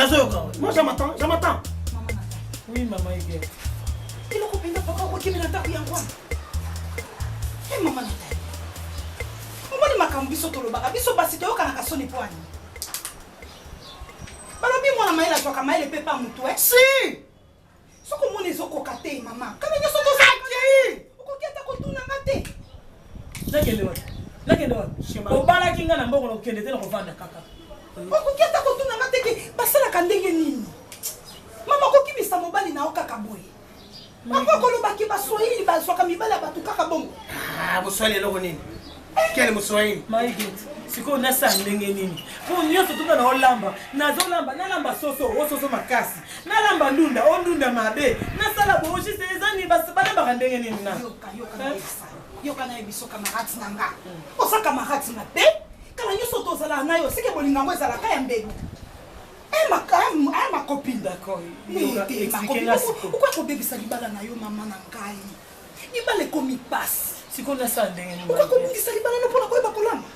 nazoyoka moi je m'attends je m'attends oui mama ege eloko mpenza papa okokimi na ndako yango wana e eh, mama natali omoni makambo biso tolobaka biso basi toyokanaka soni mpo ani balobi mwana mayele azwaka mayele mpe pa motu e si Soki omoni ezokoka te mama, kala nyonso tozakei. Okoki ata kotuna nga te. Nakende wana. Nakende wana. Obalaki nga na mbongo na kokende te na kovanda kaka. Okoki ata kotuna nga te ke basalaka ndenge nini. Mama kokimisa mobali na yo kaka boye. Mama kolobaki baswahili bazwaka mibali ya bato kaka bongo. Ah, boswahili eloko nini? quel moswahili my good sikoyo nasala ndenge nini mpo nyonso tuka na olamba nazolamba nalamba soso o soso makasi nalamba ndunda o ndunda mabe nasala boogiste ezani balambaka ndenge nini na yoka naye biso camarade na nga oza camarade mabe kala nyonso tozalaka na yo seke bolinga yango ezalaka ya mbelu makopine okoki kobebisa libala na yo mama na ngai libala ekomi pasi sikoyo nasala ndenge nini okoki kobungisa libala no mpona koyeba kolamba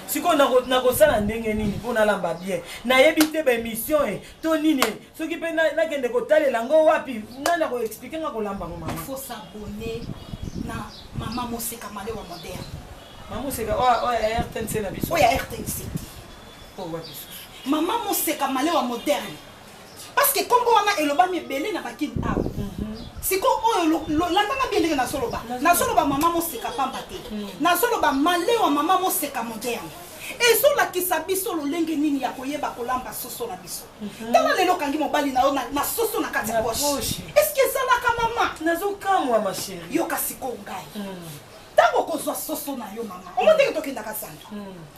sikoyo nakosala ndenge nini mpo nalamba bien nayebi te baémission e to nini e soki mpe nakende kotalela yango wapi nani akoexplike nga kolamba ngo mama faut s'abonner na mama moseka malewa moderne mama moseka oyo ya rtnc na biso oyo ya rtnc te oyo wapi susu mama moseka malewa moderne parce que kombo wana elobami ebele na bakin awa siko oyo landanga bie ndenge nazoloba nazoloba mama moseka pamba te mm. nazoloba malewa mama moseka moderne ezolakisa biso lolenge nini ya koyeba kolamba soso na biso mhm. tala lelo okangi mobali na yo na soso na kati ya poshe eske ezalaka mama nazokamwa masheri yoka sikoyo ngai mm. ntango okozwa soso na yo mama omo ndenge tokendaka zando mm.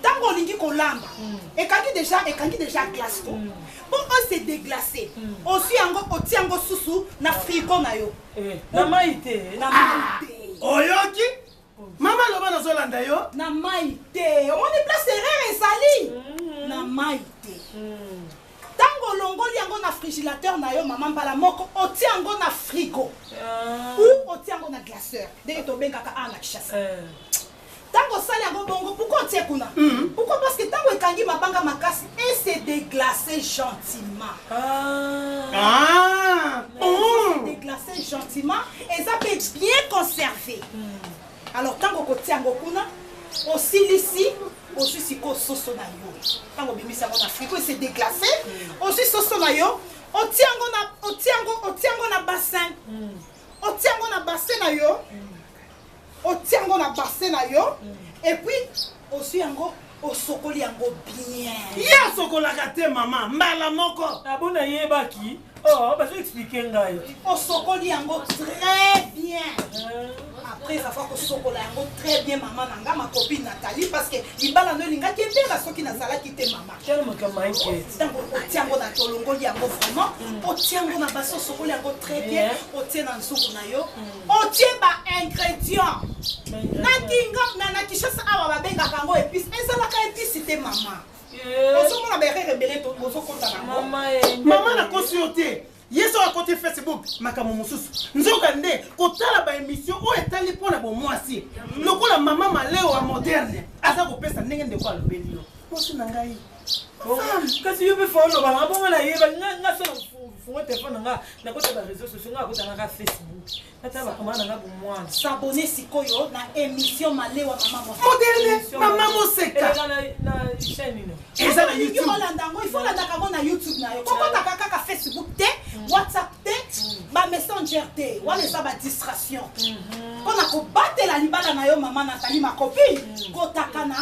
ntango olingi kolamba mm. ekangi deja ekangi deja glace ko mpo mm. ose deglace mm. oswi yango otia yango susu na frigo na yo eh, na mai te na mai ah! te oyoki mama loba nazolanda yo na mai te omoni place erreur ezali na mai te ntango olongoli yango na frigilateur na yo mama mbala moko otia yango na frigo ah. ou otia yango na glaceur ndenge tobengaka a na kishasa eh. Tango osali yango bongo pourquoi otie kuna? Pourquoi parce que tango ekangi mabanga makasi et se deglacer gentiment. Ah. Se deglacer gentiment eza pe bien conserver. Alors tango okotia yango kuna osilisi ozwi sikoyo soso na yo ntango obimisi yango na frigo ese deglase ozwi soso na yo otia yango na otia yango otia yango na bassin otia yango na bassin na yo otia yango na basin na yo epuis oswi yango osokoli yango bien ye asokolaka te mama mbala moko abo nayebaki oh, bazo explike ngai osokoli yango très bien ah. après afa kosokola yango très bien mama na nga makopi natali parce que libala no elingaki ebela soki nazalaki te mama ntango otia yango na tolongoli yango vraiment mm. otia yango na basi osokoli yango très bien otie na nzuku na yo mm. otie ba ingrédients na kinga na na kishasa awa babengaka yango épice ezalaka épice te mama eh. ozomona baerreur ebele bozokota nango mama nakosi yo te ye soki akoti facebook makambo mosusu nzoka nde kotala baémission oyo etali mpo na bomwasi lokola mama maleo ya moderne aza kopesa ndenge ndeko alobeli yo mwasi na ngai kasi yo mpe fo oloba nanga bongo nayeba nga so fungo telefone na nga nakota ba réseau sociaux nga akota nanga facebook natala bakoma nanga bomwana sabone sikoyo na émission malewa mama moseka eza na youtube olanda yango ifo olandaka yango na youtube na yo kokotaka kaka facebook te mm. whatsapp te mm. ba messenger te wana eza ba distraction mpo mm-hmm. na kobatela libala na yo mama natali makopi mm. kotaka na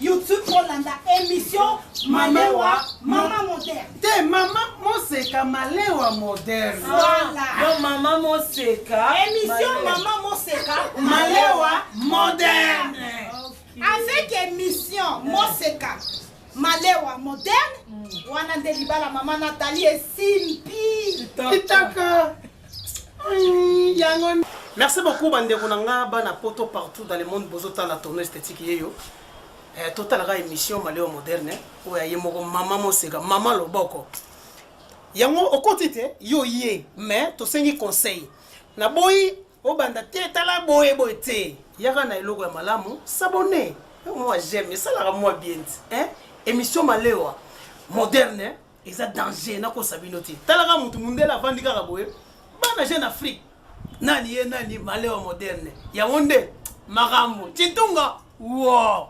YouTube kolanda emission Malewa Mama Moderne. Te Mama Moseka Malewa Moderne. Voilà. Donc Mama Moseka. Émission Mama Moseka Malewa Moderne. Avec émission Moseka Malewa Moderne. Mm. Wana nde libala Mama Nathalie esimpi. Kitaka. Merci beaucoup bandeko na nga bana poto partout dans le monde bozo tala tono esthétique yeyo eh, totalaka émission maleo moderne oyo aye moko mama moseka mama loboko yango okoti te yo ye mais tosengi conseil naboyi obanda te tala boye boye te yaka na eloko ya malamu sabone mwa j'aime esalaka mwa bien hein? émission malewa moderne eza danger nakosa bino te talaka motu mundele avandi kaka boye bana jeune afrique nani ye nani malewa moderne yango nde makambo citunga wo